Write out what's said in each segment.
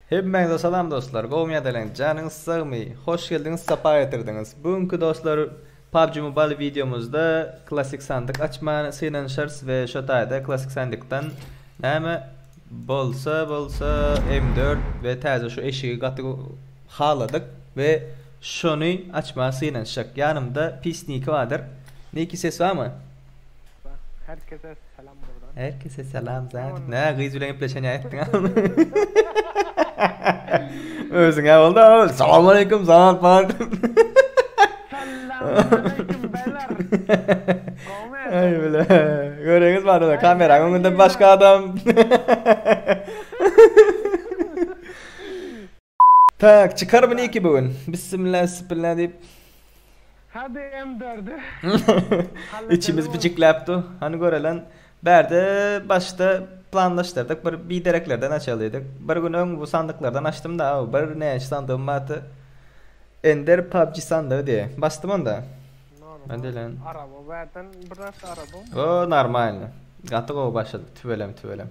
Hemmäňize salam dostlar gowymy ýa deleň janyňyz sagmy hoş geldiňiz sapa getirdiňiz bu günki dostlar PUBG Mobile wideomyzda klassyk sandyk açmany synanyşarys we şo taýda klassyk sandykdan näme bolsa bolsa M dört we täze şu eşigi gaty haladyk we şony açmaga synanyşjak ýanymda pis niki badyr niki ses barmy. Her kese salam buradan. Her kese salam zat. Ne gyz bilen gepleşen ýaýtdyň. Özüň ya oldu. Salam aleyküm zat bar. Ay bile. Görüňiz bana da kameranın öňünde başka adam. Tak çykar bu niki bu gün. Bissimilla üssipilla diýip. Hadi M4'ü. İçimiz bijikläpdi. Hany görelen. Bärde başda planlaşdyrdyk bir bidereklerden açalydyk. Bir gün öň bu sandyklardan açdymda aw bir näçe sandygymyň aty Ender PUBG sandygy diýe. Basdym onda. Normal. Araba bärden bir näçe arabam. O normalny. Gaty gowy başladyk tüweleme tüweleme.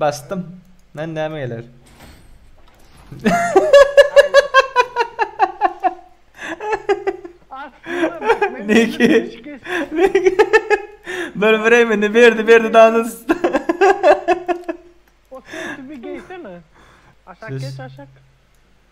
Bastym. Nan näme geler? Niki. Niki. Dur bireyim ne berdi berdi danız. O sen tübi geysene. Aşak geç aşak.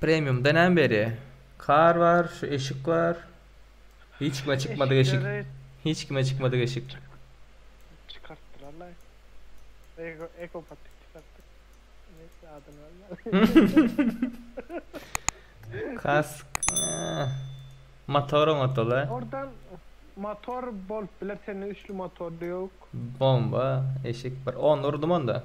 Premiumda näme berýä? Kar bar, şu eşik bar. Hiç kime çykmadyk eşik. Eşikleri- Hiç kime çykmadyk eşik. Çykartdylarlaý. Eko, ekopatik çykartdy. Neyse adyny bilmän. Kask. eee, Motor oňatdyla. Oradan motor bolup biler, sende üçli motor ýok. Bomba eşik bir. Ony urdum onda.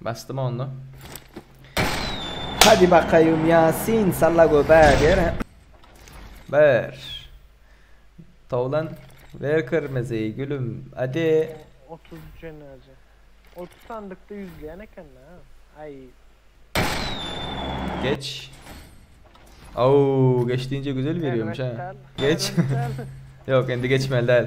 Basdymy onda? Hadi bakaýym Ýasin salla göbäge ber. Ber. Towlan ber kyrmyzy gülüm. Hadi. 30 jenaze. 30 sandykda ýüzleýän eken ha. Aý. Geç. Au, geç diýince güzel berýärmiş ha. Geç. Ýok, indi geçmeli däl.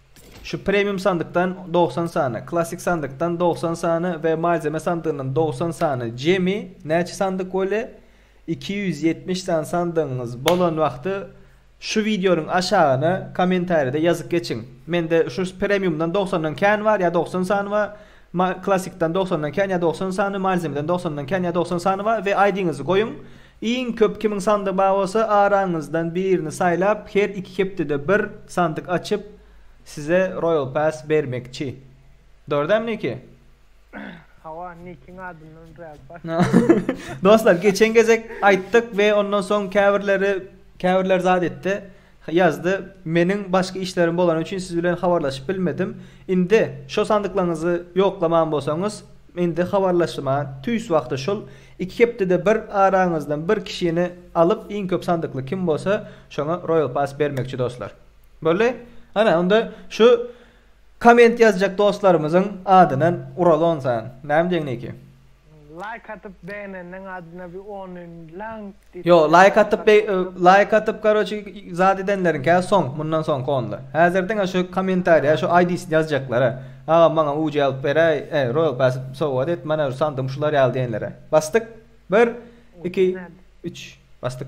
Şu Premium sandykdan dogsan sany, Classic sandykdan dogsan sany we Malzeme sandygyndan dogsan sany jemi näçe sandyk bolýa? Iki ýüz ýetmiş sany sandygyňyz bolan wagty şu wideonyň aşagyna kommentariýada ýazyp geçiň. Mende şu Premiumdan dogsandan kän bar ýa dogsan sany bar, Classicdan dogsandan kän ýa dogsan sany, Malzemeden dogsandan kän ýa dogsan sany bar we ID-ňizi goýuň Iň köp kimiň sandygy bar bolsa araňyzdan birini saýlap her iki hepdede bir sandyk açyp size royal pass bermekçi. Dogry dämi Niki? Hawa Nikiň adyndan royal pass. Dostlar geçen gezek aýtdyk we ondan soň käbirleri käbirler zat etdi. Ýazdy. Meniň başga işlerim bolany üçin siz bilen habarlaşyp bilmedim. Indi şo sandyklaňyzy ýoklaman bolsaňyz, indi habarlaşma tüýs wagty şol iki hepdede bir araňyzdan bir kişini alyp iň köp sandykly kim bolsa şoňa Royal Pass bermekçi dostlar. Boldy? Ana onda şu Komment ýazjak dostlarymyzyň adyna uraly onsan. Näme diýeň Niki? Laýk atyp begenenleň adyna bir ony laňk diýip. Ýo laýk atyp laýk atyp karoçi zat edenleriňkä soň mundan soňky onda. Häzir diňe şu kommentariýa şu aýdisini ýazjaklara. Agam maňa UC alyp beräý e royal pass sowgat et mana şu sandym şular ýaly diýenlere. Basdyk. Bir iki üç basdyk.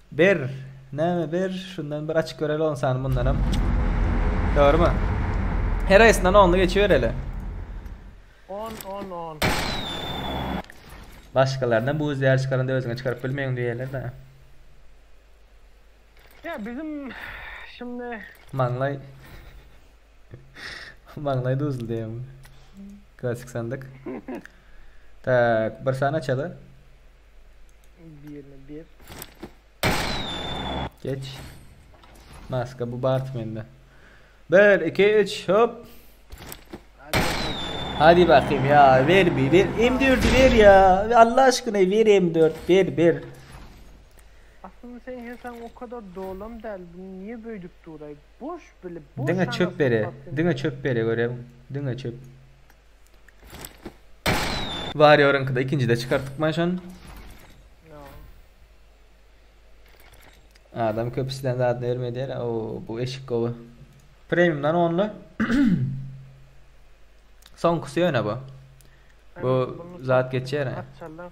Ber! Näme ber? Şundan bir açyp göreli onsany mundanam. Dogrymy? Her aýsyndan only geçibereli. On on on. Başgalaryndan bu üzýär çykaranda özüňe çykaryp bilmeýin diýerler-dä. Ya bizim şimdi Maňlaý. Maňlaý duzly diýemmi? Klasik sandyk. Tak, bir sany açaly. Birini bir. Geç. Maska bu Bart mende. 1 2 3 hop. Hadi bakayım ya ver bir ver M4'ü ver ya Allah aşkına ver M4 ver ver. Aslında sen hesen o kadar dolam del bunu niye böydük duray boş bile boş Dine çöp bere dine çöp bere görem dine çöp. Warrior'yňky-da ikinjide çykartykman şon. Adam köp islän zadyny berme diýer. O bu eşik gowy. Premiumdan only. Soňkusy ýöne bu. Bu zat geçer. Parçalar.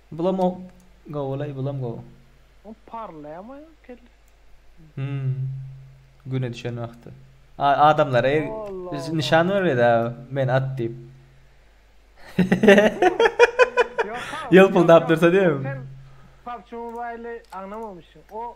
Bulam o gowulaý bulam gowy. Ol parlaýama kelle. Hüm. Güne düşen wagty. A adamlara biz nyşan bermedi a men at diýip. Ýolpuldap dursa diýem. Sen PUBG Mobile aňnamamyşyň. O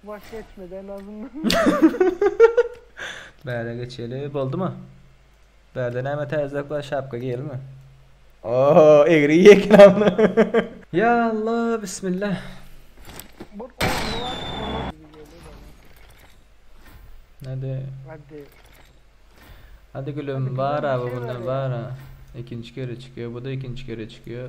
Waş etmeden azyndan. Bäre geçeli. Boldumy? Bärde näme täzelik bar? Şapka giýelimi? Oho, egri giýekin amna. Ya Allah, bismillah. Bu ornu var. Ornu gibi geliyor bana. Hadi. Hadi. Hadi gülüm Hadi var gülüm, abi şey bunda ver ya. var ha. İkinci kere çıkıyor. Bu da ikinci kere çıkıyor.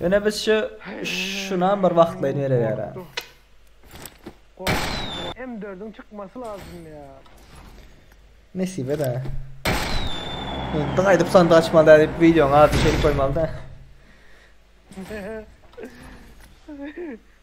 Öne biz şu şuna bir wagtlaýyn ýere ýara. M4'ün çykmasy lazım ya. Nesibe de. Indi gaýdyp sandy açmaly däl diýip videoň adyny şeýle goýmaly da.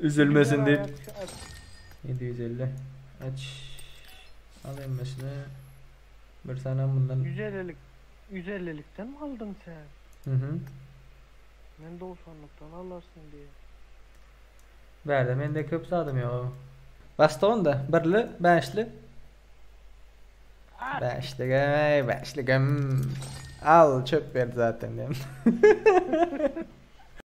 Üzülmesin diýip ýedi ýüz elli aç al hemmesini bir sanam mundan Ýüz ellilik ýüz ellilikdenmi aldyň sen? Mhm. Men dogsanlykdan alarsyň diýen. Bärde mende köp zadam ýok aga. Basdyk onda birli bäşli. At! Bäşligem eý bäşligem. Al çöp berdi zaten diýen.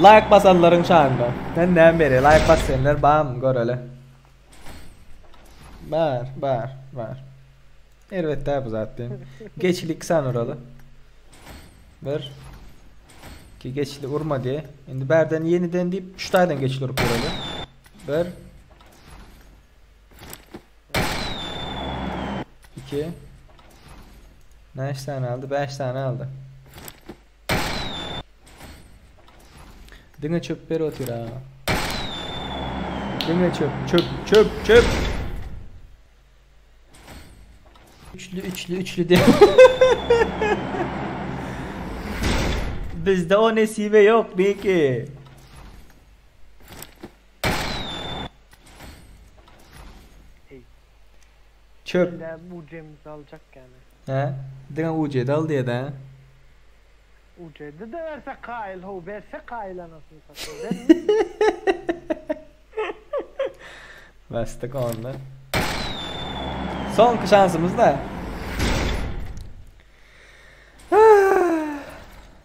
Laýk basanlaryň şanyna. Men näme beri? Laýk bas diýenler barmy? Göreli. Bar, bar, bar. Erbet däl bu zat diýen. Geçili iki sany uraly. Bir. Ki geçili urma diýe. Indi bärden ýeniden diýip, üç taýdan geçili urup uraly. Bir. İki. Näç sany aldy? Bäş sany aldy. Diňe çöp ber otyr ha. Diňe çöp, çöp, çöp, çöp. Üçlü, üçlü, üçlü de. Bizde o nesibe yok Beki. Çöp. Illa ujemizi aljak yani. Hä? Diňe ujedi al diýedä. Ujedi de berse kaýyl how berse kaýyl anasyny satyn bermeli. Basdyk onda. Soňky şansymyz da.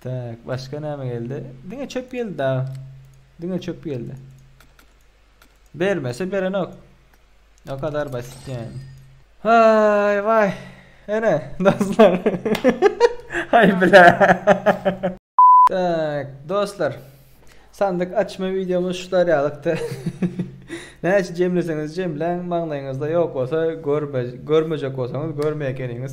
Tak başga näme geldi? Diňe çöp geldi dagy. Diňe çöp geldi. Bermese berenok. O kadar basit yani. Hay vay. Ene dostlar. Hay bile. tak dostlar. Sandyk açma videomuz şular ýalykdy. Näçe jemleseňiz jemläň maňlaýyňyzda ýok bolsa görme görmejek bolsaňyz görmeýä ekeniňiz.